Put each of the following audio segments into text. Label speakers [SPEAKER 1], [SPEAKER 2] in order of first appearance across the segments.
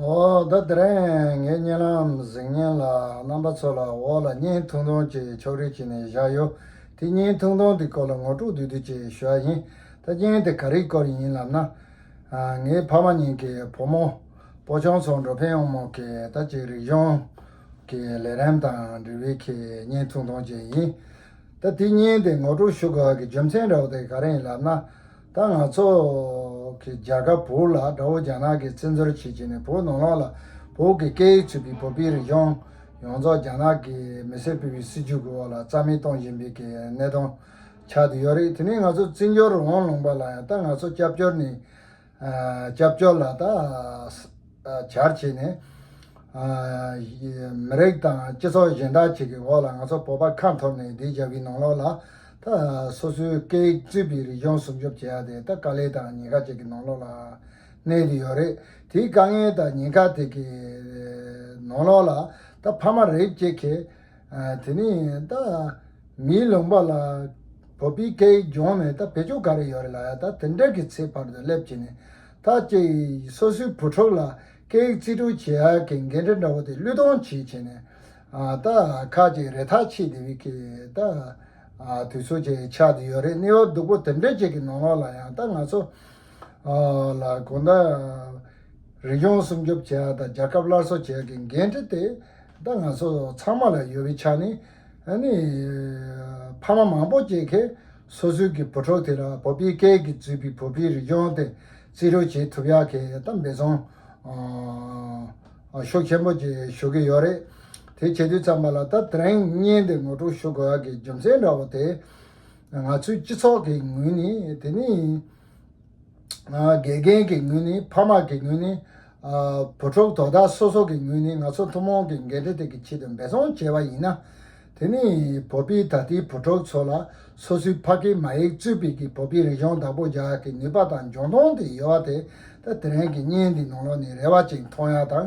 [SPEAKER 1] འོ་ད་དེ་རིང་ངའི་བརྙན་ལམ་གཟིགས་བརྙན་ལ་རྣམ་པ་ཚོ་ལ་འོག་ལ་བརྙན་ཐུང་ཐུང་ཅིག་ཕྱོགས་རིས་བྱས་ནས་བཞག་ཡོད་དེ་བརྙན་ཐུང་ཐུང་དེའི་སྐོར་ལ་ངོ་སྤྲོད་བསྡུས་བསྡུས་ཅིག་ཞུ་ཡ་ཡིན་ད་བརྙན་དེ་ག་རིའི་སྐོར་ཡིན་ལབ་ན། ངའི་ཕ་མ་གཉིས་ཀྱི་བུ་མོ་པོ་ཆུང་ཚོ་འགྲོ་ཕན་ཡོང་མུས་ཀྱི་ད་ཅིག་རིག་གཞུང་གི་ལས་རིམ་དང་འབྲེལ་བའི་ཁྱེད་བརྙན་ཐུང་ཐུང་ཅིག་ཡིན། ད་དེ་ཉན་ཏེ་ངོ་སྤྲོད་ཞུ་དགོས་ཀྱི་རྒྱུ་མཚན་རེའུ་དེ་ག་རེ་ཡིན་ལབ་ན། ད་ང་ཚོ་གི་རྒྱ་གར་བོུ་ལ་དགྲ་བོ་རྒྱ་ནག་གི་བཙན་འཛུལ་བྱེད་བྱེད་ནས་བོུ་ནོར་ལོག་ལ་བོུ་གི་སྐད་ཡིག་ཚུད་པའི་བོུ་པི་རི་གཞུང་ཡོངས་རྫོགས་རྒྱ་ནག་གི་མི་སེར་ཕུལ་བའི་སྲིད་ཇུས་ཀྱི་འོག་ལ་རྩ་མེད་གཏོང་བཞིན་པའི་གནད་དོན་ཆགས་དུ་ཡོད་རེད་དེ་ནས་ང་ཚོ་བརྩི་འཇོག་རོགས་དབང་ལུང་པ་ལ་ཡང་ད་ང་ཚོ་སྐྱབས་བཅོལ་ནས། སྐྱབས་བཅོལ་ལ་དང་བྱར་བྱས་ནས། མི་རིགས་དང་སྤྱི་ཚོགས་གཞན་དག་ཅིག་གི་འོག་ལ་ང་ཚོ་བོད་པ་ཁ་འཐོར་ནས་བསྡད་བཞག་གི་ནང་ལོགས་ལ། སོ་སོའི་སྐད་ཡིག་གཙོས་པའི་རིག་གཞུང་སྲུང་སྐྱོབ་བྱེད་ཡག་དེ་ད་དཀའ་ལས་དང་ཉེན་ཁ་ཅིག་གི་ནང་ལོགས་ལ་གནས་ཀྱི་ཡོད་རེད། དེའི་དཀའ་ངལ་དང་ཉེན་ཁ་དེ་གའི་ནང་ལོགས་ལ་ད་ཕ་མ་རེབ་ཅིག་གིས། དེ་ནས་ད་མིའི་ལུང་པ་ལ་བོད་པའི་སྐད་ཡིག་སྦྱོང་ནས་ད་བེད་སྤྱོད་ག་རེ་ཡོད་རེད་ལ་ད་དེ་འདྲ་གི་ཚེ་བར་དུ་སླེབས་ཀྱི་ནས་ད་ཀྱེ་སོ་སོའི་བུ་ཕྲུག་ལ་སྐད་ཡིག་རྩིས་སྤྲོད་བྱེད་ཡ་གི་འགན་འཁྲི་འདྲ་བོ་དེ་བློས་གཏོང་བྱེད་ཀྱི་ནས་ད་ཁག་ཅིག་རེ་ཐག་ཆད་དེ་བས་ཀྱི་ད་དུས་ཚོད་ཀྱི་ཆགས་དེ་ཡོད་རེད་གནས་བབ་སྡུག་པོ་དེ་འདྲ་ཅིག་གི་ནང་ལོགས་ལ་ཡང་ད་ང་ཚོ་ལ་གང་ལྟར་རིག་གཞུང་སྲུང་སྐྱོབ་བྱེད་ཡ་དང་རྒྱལ་ཁབ་སླར་གསོ་བྱེད་ཡ་གི་འགན་འཁྲི་དེ། ད་ང་ཚོ་ཚང་མ་ལ་ཡོད་པའི་ཆ་ནི། ཨ་ནི། ཕ་མ་མང་པོ་སྐྱེས་མཁན་སོ་སོའི་གི་བུ་ཕྲུག་དེ་ལ་བོད་པའི་སྐད་ཀྱིས་བཙུད་པའི་བོད་པའི་རིག་གཞུང་དེ་བརྩི་རུ་བྱེད་ཐུབ་ཡ་གི་ད་འབད་བརྩོན། ཤུགས་ཆེན་པོ་གྱིས་ཞུ་གི་ཡོད་རེད། དེ་བྱེད་དུས་ཙམ་པ་ལ་ད་དྲན་གཉེན་དེ་ངོ་སྤྲོད་ཞུ་དགོས་ཡ་གི་རྒྱུ་མཚན་འདྲ་བོ་དེ། ང་ཚོའི་སྤྱི་ཚོགས་ཀྱི་ངོས་ནས་དེ་ནི། དགེ་རྒན་གྱི་ངོས་ནས་ཕ་མ་གི་ངོས་ནས། བུ་ཕྲུག་དོ་བདག་སོ་སོ་གི་ངོས་ནས་ང་ཚོ་ཐུན་མོང་གི་འགན་འཁྲི་དེ་གི་ཆེད་དུ་འབད་བརྩོན་བྱས་པ་ཡིན་ན། དེ་ནི་བོད་པའི་ད་ལྟའི་བུ་ཕྲུག་ཚོ་ལ་སོ་སོའི་ཕ་སྐད་མ་ཡིག་གཙོས་པའི་གི་བོད་པའི་རིག་གཞུང་བདག་པོ་རྒྱག་གི་ནུས་པ་དང་འབྱུང་སྟངས་དེ་ཡོད་པ་དེ་ད་དེ་རིང་གི་བརྙན་འདི་ནང་ལོགས་ནས་རེ་བ་ཅིག་མཐོང་ཡ་དང་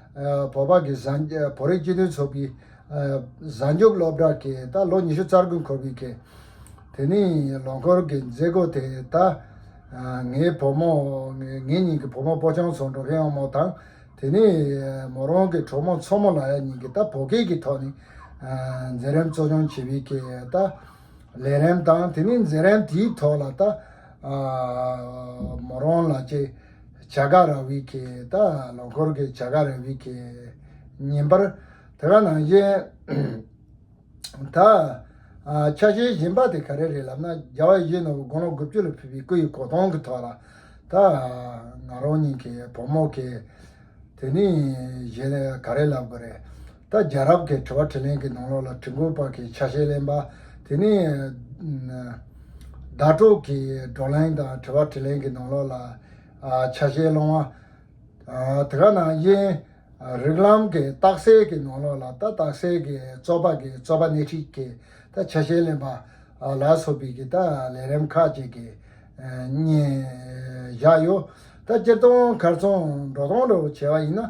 [SPEAKER 1] བོད་པ་གི་བོད་རིགས་སྤྱི་མཐུན་ཚོགས་པའི་གཟའ་མཇུག་སློབ་གྲྭ་གི་ད་ལོ་ཉི་ཤུ་རྩ་དགུ་འཁོར་བའི་གི་དེ་ནས་ལོ་འཁོར་གི་མཛད་སྒོ་དེ་ད་ངའི་བུ་མོ་ངེད་གཉིས་ཀྱི་བུ་མོ་སྤོ་ཆང་ཚོ་འགྲོ་མཁན་ཡང་མོ་དང་དེ་ནས་མོ་རང་གི་གྲོགས་མོ་མཚོ་མོ་ལ་ཡ་གཉིས་ཀྱི་ད་བོད་སྐད་ཀྱི་ཐོག་ནས་མཛད་རིམ་གཙོ་སྐྱོང་བྱེད་པའི་གི་ད་ལས་རིམ་དང་དེ་ནས་མཛད་རིམ་དེའི་ཐོག་ལ་ད་མོ་རང་ལ་བཅས། བྱ་ག་ར་བྷི་ཀེ་ད་ལོ་འཁོར་གི་བྱ་ག་ར་བྷི་ཀེ་ཉིན་པར་དེ་ག་ནང་བཞིན་ད་ཆ་ཤེས་བཞིན་པ་དེ་ག་རེ་རེད་ལབ་ན་རྒྱ་བ་བཞི་ནོར་བུ་དགུང་ལོ་དགུ་བཅུ་ལ་ཕུལ་བའི་སྐུ་ཡི་གོ་སྟོང་གི་ཐོག་ལ་ད་ང་རང་གཉིས་ཀྱི་བུ་མོ་གི་དེ་ནས་གཞན་ལ་ག་རེ་ལབ་དགོས་རེད། ད་རྒྱལ་རབས་ཀྱི་དྲི་བ་དྲི་ལན་གྱི་ནང་ལོགས་ལ་བྲིས་འགོད་པར་གྱི་ཆ་ཤས་ལེན་པ། དེ་ནས་ཟླ་གྲོགས་ཀྱི་བགྲོ་གླེང་དང་དྲི་བ་དྲི་ལན་གྱི་ནང་ལོགས་ལ་ཆ་ཤས་སློང་བ། དེ་ག་ནང་བཞིན་རིགས་ལམ་གྱི་རྟགས་གསལ་གྱི་ནང་ལོགས་ལ་ད་རྟགས་གསལ་གྱི་རྩོད་པ་གྱི་རྩོད་པ་སྣེ་ཁྲིད་ཀྱི་ད་ཆ་ཤས་ལེན་པ། ལ་སོགས་པའི་གྱི་ད་ལས་རིམ་ཁག་ཅིག་གི་བསྙེན་བཞག་ཡོད། ད་སྤྱིར་བཏང་གར་སོང་འགྲོ་སྟངས་རེ་བ་བྱས་པ་ཡིན་ན་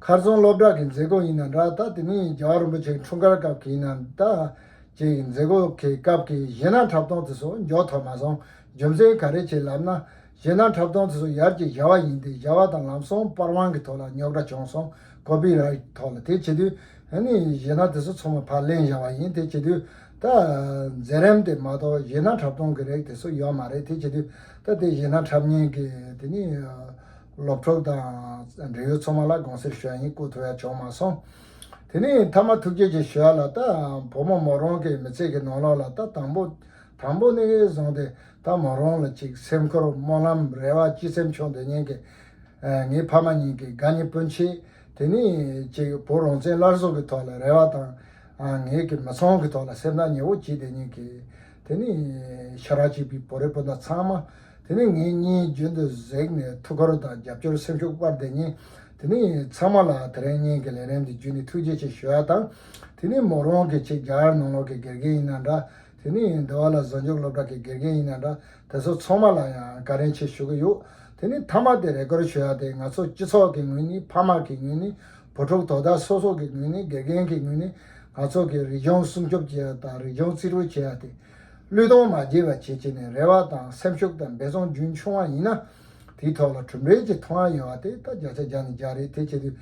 [SPEAKER 1] མཁར་རྫོང་སློབ་གྲྭ་གི་མཛད་སྒོ་ཡིན་ན་འདྲ་ད་དེ་མིན་རྒྱ་གར་རིན་པོ་ཆེ་འཁྲུངས་སྐར་སྐབས་ཀྱི་ཡིན་ན་འདྲ་བཅས་ཀྱི་མཛད་སྒོ་གི་སྐབས་ཀྱི་གཞས་སྣ་འཁྲབ་སྟོང་དེ་ཚོ་མགྱོགས་ཐོག་མ་སོང་རྒྱུ་མཚན་ག་རེ་བྱས་ལབ་ན་གཞས་སྣ་འཁྲབ་སྟོང་དེ་ཚོ་ཡར་གྱི་གཞའ་བ་ཡིན་ཏེ་གཞའ་བ་དང་ལམ་སོང་པར་དབང་གི་ཐོག་ལ་རྙོག་དྲ་བྱུང་སོང་ཀོ་པི་ར་ཐོག་ལ་དེ་བྱེད་དུས་ནི་གཞས་སྣ་དེ་ཚོ་ཚོ་མ་ཕར་ལེན་གཞའ་བ་ཡིན་དེ་བྱེད་དུས་ད་མཛད་རེམ་དེ་མ་གཏོགས་གཞས་སྣ་འཁྲབ་སྟོང་གི་རེག་དེ་ཚོ་ཡོག་མ་རེད་དེ་བྱེད་དུས་ད་དེ་ཡིན་ན་འཁྲབ་ཉེན་གྱི་དེ་ནི་སློབ་གྲོགས་དང་འབྲེལ་ཡོད་ཚོགས་མང་ལ་དགོངས་སེལ་ཞུ་ཡ་ཡིན་བསྐུར་ཐུབ་ཡ་བྱུང་མ་སོང། དེ་ནི་མཐའ་མ་ཐུགས་རྗེ་ཆེ་ཞུ་ཡ་ལ་ད་བུ་མོ་མོ་རང་གི་མི་ཚེ་གི་ནང་ལོགས་ལ་ད་དང་པོ་དང་པོ་ནས་བཟུང་སྟེ་ད་མོ་རང་ལ་ཅིག་སེམས་ཁུར་སྨོན་ལམ་རེ་བ་སྤྱི་སེམས་ཆུང་དུ་ཉེན་གི་ངའི་ཕ་མ་གཉིས་ཀྱི་དགའ་ཉེ་སྤུན་མཆེད་དེ་ནི་ཅིག་བུ་རང་བཙན་སླར་གསོ་གི་ཐོག་ལ་རེ་བ་དང་ངེད་ཀྱི་མི་ཚང་གི་ཐོག་ལ་སེམས་ཐག་ཉེ་བོ་གྱིས་དེ་ཉིན་གྱི་དེ་ནས་ཤཱ་ར་ཅི་པི་བོ་རི་སྤུན་ཟླ་ཚང་མ་དེ་ནས་ངེད་གཉིས་རྒྱུན་དུ་གཟིགས་ནས་ཐུགས་ཁུར་དང་རྒྱབ་སྐྱོར་སེམས་ཤུགས་སྤར་བསྡད་ཉིན་དེ་ནས་ཚང་མ་ལ་དེ་རིང་གཉིས་ཀྱི་ལས་རིམ་འདི་བརྒྱུད་ནས་ཐུགས་རྗེ་ཆེ་ཞུ་བ་དང། དེ་ནས་མོ་རང་གི་ཆེད་རྒྱ་གར་ནང་ལོག་གི་དགེ་རྒན་ཡིན་ན་འདྲ་དེ་ནས་འདི་བ་ལ་བཟོ་འཇུག་སློབ་གྲྭ་གི་དགེ་རྒན་ཡིན་ན་འདྲ་དེ་ཚོ་ཚང་མ་ལ་ཡང་བཀའ་དྲིན་ཆེ་ཞུ་གི་ཡོད་དེ་ནས་མཐའ་མ་དེ་རེ་སྐོར་ཞུ་བ་དེ་ང་ཚོ་སྤྱི་ཚོགས་ཀྱི་ངོས་ནས་ཕ་མ་གི་ངོས་ནས་བུ་ཕྲུག་དོ་བདག་སོ་སོ་གི་ངོས་ནས་དགེ་རྒན་གྱི་ངོས་ནས་ང་ཚོ་གིས་རིག་གཞུང་སྲུང་སྐྱོབ་བྱེད་ཡ་དང་རིག་གཞུང་བརྩི་རུ་བྱེད་ཡ་དེ། བློས་གཏོང་མ་བགྱིས་པ་བྱེད་བྱེད་ནས་རེ་བ་དང་སེམས་ཤུགས་དང་འབད་བརྩོན་རྒྱུན་ཆུང་བ་ཡིན་ན། དེའི་ཐོག་ལ་གྲུབ་འབྲས་ཀྱི་མཐོང་ཡ་ཡོད་བ་དེ་ད་བརྒྱ་ཆ་བརྒྱ་ནས་བརྒྱ་རེད་དེ་བྱེད་དུས།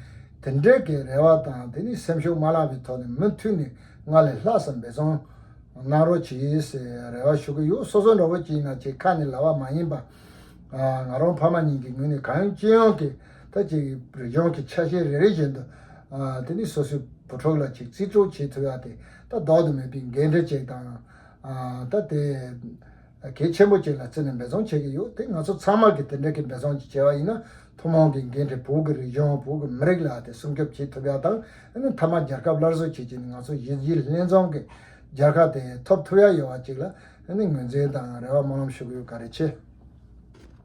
[SPEAKER 1] དེ་འདྲའི་གི་རེ་བ་དང་དེ་ནས་སེམས་ཤུགས་མ་བླངས་པའི་ཐོག་ནས་མུ་མཐུད་ནས་སྔར་ལས་ལྷག་བསམ་འབད་བརྩོན་གནང་རོགས་བྱེད་རེ་བ་ཞུ་གི་ཡོད་སོ་སོ་འདྲ་བོ་བྱེད་ན་བྱེད་ཁ་ནས་ལ་བ་མ་ཡིན་པ། ང་རང་ཕ་མ་གཉིས་ཀྱི་ངོས་ནས་གང་ཡོང་ཅི་ཡོང་གི། ད་ཅིག་རི་ལྗོངས་ཀྱི་ཆ་ཤས་རེ་རེ་བཞིན་དུ། དེ་ནི་སོ་སོའི་བུ་ཕྲུག་ལ་ཅིག་རྩིས་སྤྲོད་བྱེད་ཐུབ་ཡ་དེ་ད་ལྡོག་ཏུ་མེད་པའི་འགན་འཁྲི་ཅིག་དང། ད་དེ་གལ་ཆེན་པོ་ཅིག་ལ་བརྩིས་ནས་འབད་བརྩོན་བྱེད་ཀྱི་ཡོད་དེ་ང་ཚོ་ཚང་མར་གྱི་དེ་འདྲ་གི་འབད་བརྩོན་ཅིག་བྱས་པ་ཡིན་ན་ཐུན་མོང་གི་འགན་འཁྲི་བོད་ཀྱི་རི་ལྗོངས་བོད་ཀྱི་མི་རིགས་ལ་དེ་སྲུང་སྐྱོབ་བྱེད་ཐུབ་ཡ་དང་མཐའ་མ་རྒྱལ་ཁབ་སླར་གསོ་བྱེད་ཆེད་ནས་ང་ཚོ་གཞི་བཞི་ལྷན་འཛོམས་ཀྱི་རྒྱལ་ཁ་དེ་ཐོབ་ཐུབ་ཡ་ཡོད་པ་ཅིག་ལ་ངོས་འཛིན་དང་རེ་བ་སྨོན་ལམ་ཞུ་གི་ཡོད་ག་རེ་ཆེ།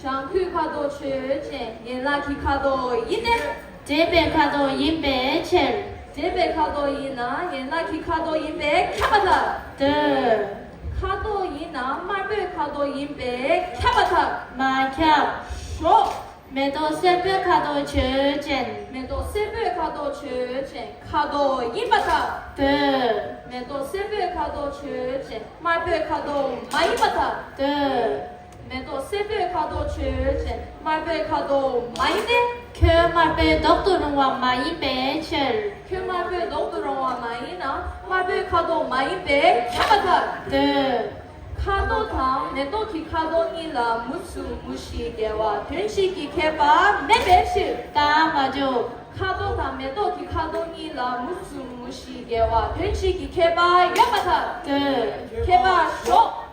[SPEAKER 2] བྱང་ཁུལ་ཁ་དོག་ཆོས་ཅན་ཡན་ལག་གི་ཁ་དོག་ཡིན་ཏེ། འདྲེས་པའི་ཁ་དོག་ཡིན་པའི་ཕྱིར། འདྲེས་པའི་ཁ་དོག་ཡིན་ན་ཡན་ལག་གི་ཁ་དོག་ཡིན་པས་ཁྱབ་པ་དག། འདོད། ཁ་དོག་ཡིན་ན་དམར་པོའི་ཁ་དོག་ཡིན་པས་ཁྱབ་པ་དག། མ་ཁྱབ། ཞོག། མེ་ཏོག་སེར་པོའི་ཁ་དོག་ཆོས་ཅན། མེ་ཏོག་སེར་པོའི་ཁ་དོག་ཆོས་ཅན་ཁ་དོག་ཡིན་པ་དག། འདོད། མེ་ཏོག་སེར་པོའི་ཁ་དོག་ཆོས་ཅན་དམར་པོའི་ཁ་དོག་མ་ཡིན་པ་དག། འདོད། མེ་ཏོག་སེར་པོའི་ཁ་དོག་ཆུ་བཞིན་དམར་པོའི་ཁ་དོག་མ་ཡིན་ཏེ། ཁྱོད་དམར་པོའི་མདོག་ཏུ་རུང་བ་མ་ཡིན་པའི་ཕྱིར། ཁྱོད་དམར་པོའི་མདོག་ཏུ་རུང་བ་མ་ཡིན་ན་དམར་པོའི་ཁ་དོག་མ་ཡིན་པས་ཁྱབ་པ་ལྟར། འདོད། ཁ་དོག་དང་མེ་ཏོག་གི་ཁ་དོག་གཉིས་ལ་མུ་གསུམ་མུ་བཞི་འགལ་བ་དོན་གཅིག་གི་ཁྱད་པར་མེད་པའི་ཕྱིར། ད་མ་འཇོག། ཁ་དོག་དང་མེ་ཏོག་གི་ཁ་དོག་གཉིས་ལ་མུ་གསུམ་མུ་བཞི་འགལ་བ་དོན་གཅིག་གི་ཁྱད་པར་ཡོད་པ་ལྟར། འདོད། ཁྱད་པར་ཞོག།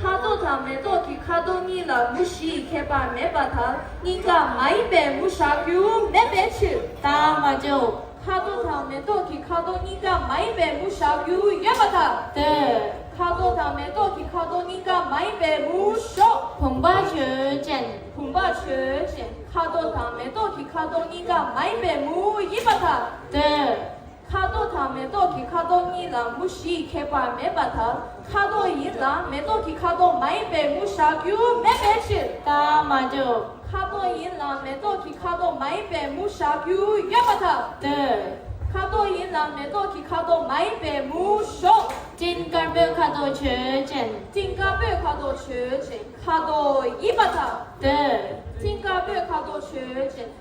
[SPEAKER 3] ཁ་དོག་དང་
[SPEAKER 2] མེ་ཏོག་གི་ཁ་དོག་གཉིས་ལ་མུ་བཞི་ཡི་ཁྱད་པར་མེད་པ་དང་སྙིང་ག་མ་ཡིན་པའི་མུ་བཞག་རྒྱུ་མེད་པའི་ཕྱིར། དང་མ་འཇོག།
[SPEAKER 3] ཁ་དོག་དང་མེ་
[SPEAKER 2] ཏོག་གི་ཁ་དོག་སྙིང་ག་མ་ཡིན་པའི་མུ་བཞག་རྒྱུ་ཡོད་པ་དང་ལྟོས། ཁ་
[SPEAKER 3] དོག་དང་མེ་
[SPEAKER 2] ཏོག་གི་ཁ་དོག་སྙིང་ག་མ་ཡིན་པའི་མུ་བཞོག། བུམ་པ་ཆོས་
[SPEAKER 3] ཅན། བུམ་པ་ཆོས་
[SPEAKER 2] ཅན། ཁ་དོག་དང་མེ་ཏོག་གི་ཁ་དོག་སྙིང་ག་མ་ཡིན་པའི་མུ་ཡིན་པ་དང་ལྟོས།
[SPEAKER 3] ཁ་དོག་དང་མེ་
[SPEAKER 2] ཏོག་གི་ཁ་དོག་གཉིས་ལ་མུ་བཞི་ཡི་ཁྱད་པར་མེད་པ་ལྟར་ཁ་དོག་ཡིན་ལ་མེ་ཏོག་གི་ཁ་དོག་མ་ཡིན་པའི་མུ་བཞག་རྒྱུ་མེད་པའི་ཕྱིར། རྟགས་མ་གྲུབ།
[SPEAKER 3] ཁ་དོག་ཡིན་ལ་
[SPEAKER 2] མེ་ཏོག་གི་ཁ་དོག་མ་ཡིན་པའི་མུ་བཞག་རྒྱུ་ཡོད་པ་དང་ལྡན། ཁ་
[SPEAKER 3] དོག་ཡིན་ལ་
[SPEAKER 2] མེ་ཏོག་གི་ཁ་དོག་མ་ཡིན་པའི་མུ་བཞོག། སྤྲིན་དཀར་པོའི་
[SPEAKER 3] ཁ་དོག་ཆོས་ཅན། སྤྲིན་དཀར་པོའི་ཁ་དོག་
[SPEAKER 2] ཆོས་ཅན། ཁ་དོག་ཡིན་པ་དང་ལྡན།
[SPEAKER 3] སྤྲིན་དཀར་པོའི་ཁ་
[SPEAKER 2] དོག་ཆོས་ཅན།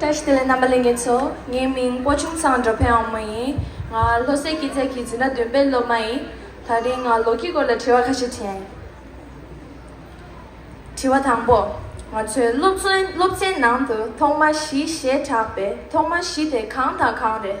[SPEAKER 2] ཀྲེ་ཤི་ལེ་རྣམ་པ་ལེ་ངེ་ཚོ་ངའི་མིང་སྤོ་ཆུང་ཚང་འགྲོ་ཕན་ཨའོ་མོན་ཡིན་ང་ལྷོ་སའི་སྐྱིད་ཚལ་གྱི་འཛིན་གྲྭ་བདུན་པའི་སློབ་མ་ཡིན་ད་རིང་ང་ལོ་རྒྱུས་སྐོར་ལ་དྲི་བ་ཁ་ཤས་དྲན། དྲི་བ་དང་པོ། ང་ཚོའི་སློབ་ཚན་ནང་དུ་ཐོག་མ་བཞི་ཞེས་གྲགས་པའི་ཐོག་མ་བཞི་དེ་གང་དང་གང་རེད།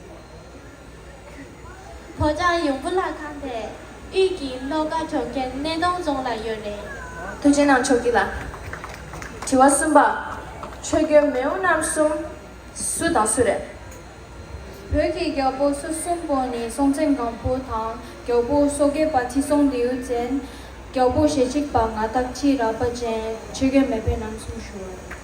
[SPEAKER 3] ལྷོ་བྱང་ཡུམ་བུ་ལ་ཁང་དེ་དབུས་ཀྱི་ལྷོ་ཁ་གྲོང་ཁྱེར་སྣེ་གདོང་རྫོང་ལ་ཡོད་རེད། ཐུགས་རྗེ་གནང་ཆོག་
[SPEAKER 2] གི་ལ། དྲི་བ་གསུམ་པ། ཆོས་རྒྱལ་མེའུ་རྣམ་གསུམ་སུ་དང་སུ་རེད། བོད་
[SPEAKER 4] ཀྱི་རྒྱལ་པོ་སོ་གསུམ་པོ་ནི་སྲོང་བཙན་སྒམ་པོ་དང་རྒྱལ་པོ་སོ་སྐྱེ་པ་ཁྲི་སྲོང་ལྡེའུ་བཙན། རྒྱལ་པོ་ཞེ་གཅིག་པ་ང་བདག་ཁྲི་རལ་པ་ཅན་ཆོས་རྒྱལ་མེས་དཔོན་རྣམ་གསུམ་བཞུགས།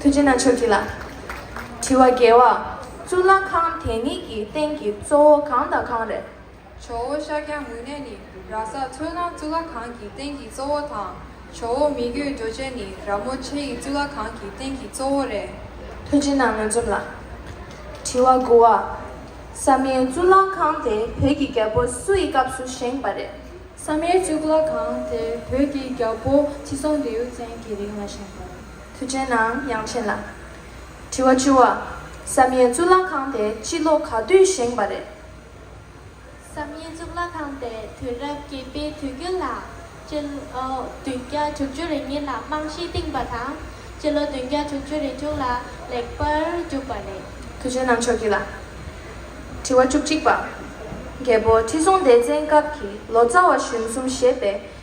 [SPEAKER 3] ཐུགས་རྗེ་ན་ཆོག་གྱིས་
[SPEAKER 2] ལ། དྲི་བ། རྒྱལ་བ། གཙུག་ལག་ཁང་དེ་གཉིས་ཀྱི་སྟེང་གི་གཙོ་བོ་གང་དང་གང་རེད། ཇོ་བོ་ཤཱ་ཀྱ་
[SPEAKER 4] མུ་ནེ་ནི་ར་ས་མཚོའི་ནང་གཙུག་ལག་ཁང་གི་སྟེང་གི་གཙོ་བོ་དང། ཇོ་བོ་མི་བསྐྱོད་རྡོ་རྗེ་ནི་ར་མོ་ཆེ་ཡི་གཙུག་ལག་ཁང་གི་སྟེང་གི་གཙོ་བོ་རེད། ཐུགས་རྗེ་ན་
[SPEAKER 2] ངོས་འཛོམས་ལ། དྲི་བ། དགུ་བ། བསམ་ཡས་གཙུག་ལག་ཁང་དེ་བོད་ཀྱི་རྒྱལ་པོ་སུ་ཡི་སྐབས་སུ་བཞེངས་པ་རེད། བསམ་
[SPEAKER 4] ཡས་གཙུག་ལག་ཁང་དེ་བོད་ཀྱི་རྒྱལ་པོ་ཁྲི་སྲོང་ལྡེའུ་བཙན་གྱི་རིང་ལ་བཞེངས་པ་རེད། དུས་ཆེན་ནའང་
[SPEAKER 2] ཡང་ཆེན་ལ། དྲི་བ་བྱུ་བ། བསམ་ཡས་གཙུག་ལག་ཁང་དེ་སྤྱི་ལོ་ག་དུས་བཞེངས་པ་རེད། བསམ་
[SPEAKER 3] ཡས་གཙུག་ལག་ཁང་དེ་དུས་རབས་བརྒྱད་པའི་དུས་དཀྱིལ་ལ། སྤྱི་ལོ་བདུན་བརྒྱ་དྲུག་ཅུ་རེ་གཉིས་ལ་རྨང་གཞི་བཏིངས་པ་དང། སྤྱི་ལོ་བདུན་བརྒྱ་དྲུག་ཅུ་རེ་དྲུག་ལ་ལེགས་པར་བསྒྲུབས་པ་རེད། དུས་ཆེན་ནང་ཆོས་ཀྱི་ལ།
[SPEAKER 2] དྲི་བ་བཅུ་གཅིག་པ། རྒྱལ་པོ་ཁྲི་སྲོང་ལྡེ་བཙན་སྐབས་ཀྱི་ལོ་ཙཱ་བ་གཞོན་གསུམ་ཞེས་པའི་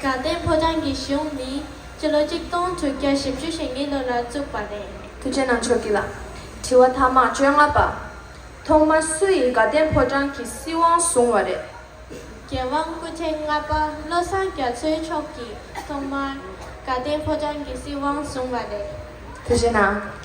[SPEAKER 3] དགའ་ལྡན་ཕོ་བྲང་གི་གཞུང་ནི་སྤྱི་ལོ་གཅིག་སྟོང་དྲུག་བརྒྱ་བཞི་བཅུ་ཞེ་གཉིས་ལོ་ལ་བཙུགས་པ་རེད། ཐུགས་ཆེན་ནང་ཆོས་ཀྱི་ལ།
[SPEAKER 2] དྲི་བ་ཐ་མ་བཅོ་ལྔ་པ། ཐོག་མར་སུ་ཡིས་དགའ་ལྡན་ཕོ་བྲང་གི་སྲིད་དབང་བཟུང་བ་རེད། རྒྱལ་
[SPEAKER 3] དབང་སྐུ་ཕྲེང་ལྔ་པ་བློ་བཟང་རྒྱ་མཚོའི་མཆོག་གིས་ཐོག་མར་དགའ་ལྡན་ཕོ་བྲང་གི་སྲིད་དབང་བཟུང་བ་རེད། དེ་བཞིན་ན།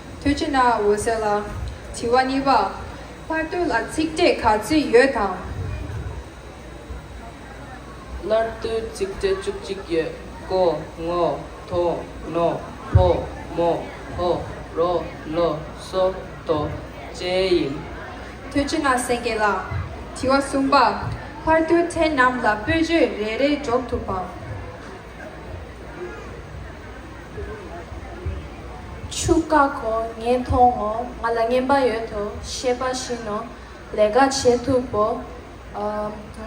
[SPEAKER 5] ཐུགས་ཀྱི་ནང་འོད་གསལ་ལ། དྲི་
[SPEAKER 4] བ་གཉིས་པ། ཕར་ལྟོས་ལ་ཚིག་འབྲས་ག་ཚོད་ཡོད་དམ།
[SPEAKER 6] སླར་ལྟོས་ཚིག་འབྲས་བཅུ་གཅིག་ཡོད། ཀོ། ངོ། དོ། ནོ། ཕོ། མོ། ཧོ། རོ། ལོ། སོ། དོ། བཅས་ཡིན། ཐུགས་ཀྱི་ནང་སེང་གེ་ལ། དྲི་བ་
[SPEAKER 4] གསུམ་པ། ཕར་ལྟོས་ཕྲན་རྣམས་ལ་སྤོས་བརྗོད་རེ་རེ་སྒྲོག་ཐུབ་བམ།
[SPEAKER 2] ཆུ་བཀག་གོ་ངས་མཐོང་ངོ་ང་ལ་རྔན་པ་ཡོད་དོ་ཤེས་པ་བཞིན་ནོ་ལས་ཀ་བྱེད་ཐུབ་བོ།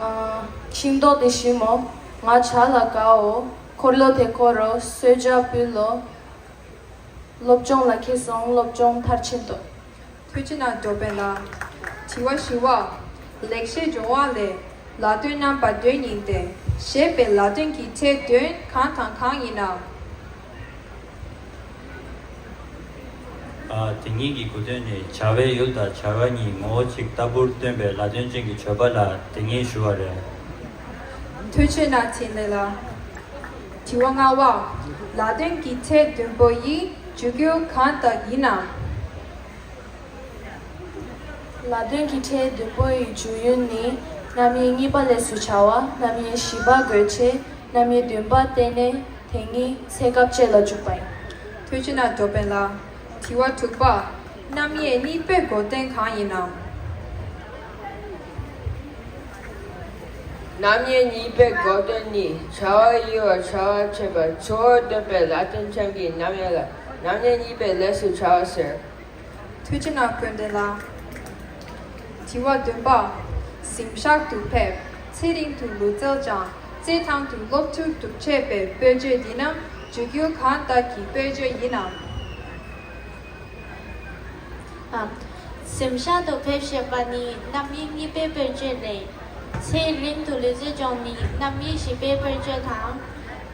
[SPEAKER 2] ང་ཤིང་ཏོག་དེ་ཞིམ་མོ་ང་བྱ་ལ་དགའ་འོ་འཁོར་ལོ་དེ་འཁོར་རོ་གསོལ་ཇ་འབུལ་ལོ། སློབ་སྦྱོང་ལ་ཁེལ་སོང་སློབ་སྦྱོང་མཐར་ཕྱིན་ཏོ། ཐུགས་ཅི་ན་འགྲོ་པས་ན། དྲི་བ་བཞི་བ།
[SPEAKER 4] ལེགས་བཤད་སྦྱོང་བ་ལས། ལ་དོན་རྣམ་པ་བདུན་ཡིན་ཏེ། ཞེས་པའི་ལ་དོན་གྱི་ཚད་བདུན་གང་དང་གང་ཡིན་ནམ།
[SPEAKER 7] དེ་གཉིས་ཀྱི་གོ་དོན་ནི་བྱ་བའི་ཡུལ་དང་བྱ་བ་གཉིས་ངོ་བོ་གཅིག་ལྟ་བུར་སྟོན་པའི་ལ་དོན་ཅན་གྱི་བརྗོད་པ་ལ་དེ་ངེས་ཞུ་བ་རེད། ཐུགས་ཆེ་ན་ཕྲིན་ལས་ལ།
[SPEAKER 4] དྲི་བ་ལྔ་བ། ལ་དོན་གྱི་ཚད་བདུན་པོ་ཡིས་འཇུག་རྒྱུ་གང་དག་ཡིན་ནམ།
[SPEAKER 2] ལ་དོན་གྱི་ཁྲལ་བདུན་པོ་ཡི་འཇུག་ཡུན་ནི་རྣམ་དབྱེ་གཉིས་པ་ལས་སུ་བྱ་བ་རྣམ་དབྱེ་བཞི་པ་དགོས་ཆེད་རྣམ་དབྱེ་བདུན་པ་བསྟན་ནས་དེ་གཉིས་ཚེ་སྐབས་བཅད་ལ་འཇུག་པ་ཡིན། ཐོས་ཅི་ན་འདོད་པས་ལ། དྲི་
[SPEAKER 4] བ་དྲུག་པ། རྣམ་དབྱེ་གཉིས་པའི་སྒོ་བསྟན་གང་ཡིན་ནམ།
[SPEAKER 6] རྣམ་དབྱེ་གཉིས་པའི་སྒོ་བསྟན་ནི་བྱ་བ་དབྱེ་བར་བྱ་བ་བྱེད་པར་ཆོ་འདོད་པས་ལ་དོན་ཆང་གིས་རྣམ་དབྱེ་ལ། མྱ་ངན་གཉིས་པའི་ལས་སུ་བྱ་ཟེར། ཐུགས་ཅི་ན་བཀོད་འདི་ལ། དྲི་བ་བདུན་པ།
[SPEAKER 4] གཟིམ་ཤག་ཏུ་ཕེབས་ཚེ་རིང་དུ་ལུས་རྩལ་སྦྱངས་རྩེད་ཐང་དུ་སློབ་བསྐྱུར་སྒྲུབ་བྱེད་པའི་སྤོས་ཆས་འདི་ནི་བརྗོད་གྱུར་གང་དག་གི་སྤོས་ཆས་ཡིན་
[SPEAKER 3] ནམ། གཟིམ་ཤག་ཏུ་ཕེབས་ཞེས་པ་ནི་རྣམ་དབྱེ་གཉིས་པའི་སྤོས་ཆས་ལས། ཚེ་རིང་དུ་ལུས་རྩལ་སྦྱོང་ནི་རྣམ་དབྱེ་བཞི་པའི་སྤོས་ཆས་དང།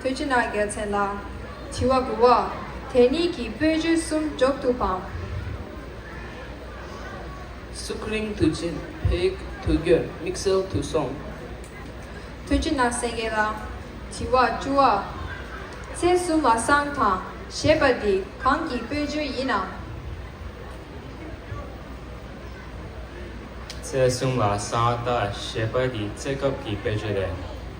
[SPEAKER 7] ཐུགས་ཀྱི་ནང་རྒྱལ་
[SPEAKER 4] མཚན་ལ། བྱི་བ་སྦུ་བ། དེ་གཉིས་ཀྱིས་སྤོས་རྒྱུད་གསུམ་རྒྱོབ་ཏུ་སྤང།
[SPEAKER 6] སུག་རིང་དུ་བྱིན་བག་དུ་གྱོན་དམིགས་བསལ་དུ་སོང། ཐུགས་
[SPEAKER 4] ཀྱི་ནང་སེང་གེ་ལ། བྱི་བ་བཅུ་བ། ཚེ་བསོད་མ་སངས་དང་ཞེས་པ་འདི་གང་གི་སྤོས་རྒྱུད་ཡིན་ནམ།
[SPEAKER 5] ཚེ་བསོད་མ་སངས་དང་ཞེས་པ་འདི་རྩེ་སྐབས་ཀྱི་སྤོས་རྒྱུད་རེད།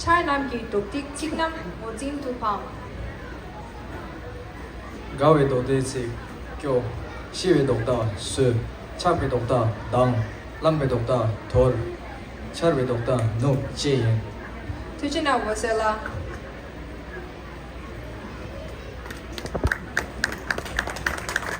[SPEAKER 4] ཆར་རྣམས་ཀྱི་མདོག་སྡིག་གཅིག་ན་མགོ་འཛིན་དུ་འཕང། དགའ་
[SPEAKER 5] བའི་མདོག་དེས་ཚིག་སྐྱོ། ཤི་བའི་མདོག་དག་སོད། ཆགས་པའི་མདོག་དག་སྡང། བརླམས་པའི་མདོག་དག་དོར། འཆར་བའི་མདོག་དག་ནུབ་བཅས་ཡིན། ཐུགས་ཆེ་ན་
[SPEAKER 4] འོད་གསལ་ལ།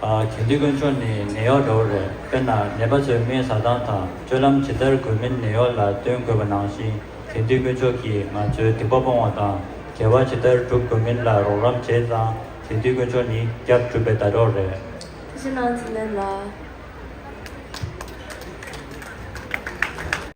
[SPEAKER 7] གལ་ཏེ་དཀོན་མཆོག་ནི་ནད་གཡོག་འདྲ་བོ་རེད་དཔེར་ན་ནད་པ་ཚོའི་སྨན་ཟ་སྟངས་དང་སྤྱོད་ལམ་ཇི་ལྟར་དགོས་མིན་ནད་གཡོག་ལ་སྟོན་དགོས་པ་ནང་བཞིན་དེང་དུས་དཀོན་མཆོག་གིས་ང་ཚོའི་སྡིག་པ་སྤོང་བ་དང་དགེ་བ་ཇི་ལྟར་བསྒྲུབ་དགོས་མིན་ལ་རོགས་རམ་བྱས་ཙང་དེང་དུས་དཀོན་མཆོག་ནི་སྐྱབས་བསྒྲུབ་པའི་ཟླ་གྲོགས་རེད། ཁྱེད་ཀྱི་ནང་ཚིག་
[SPEAKER 8] ལེན་ལ།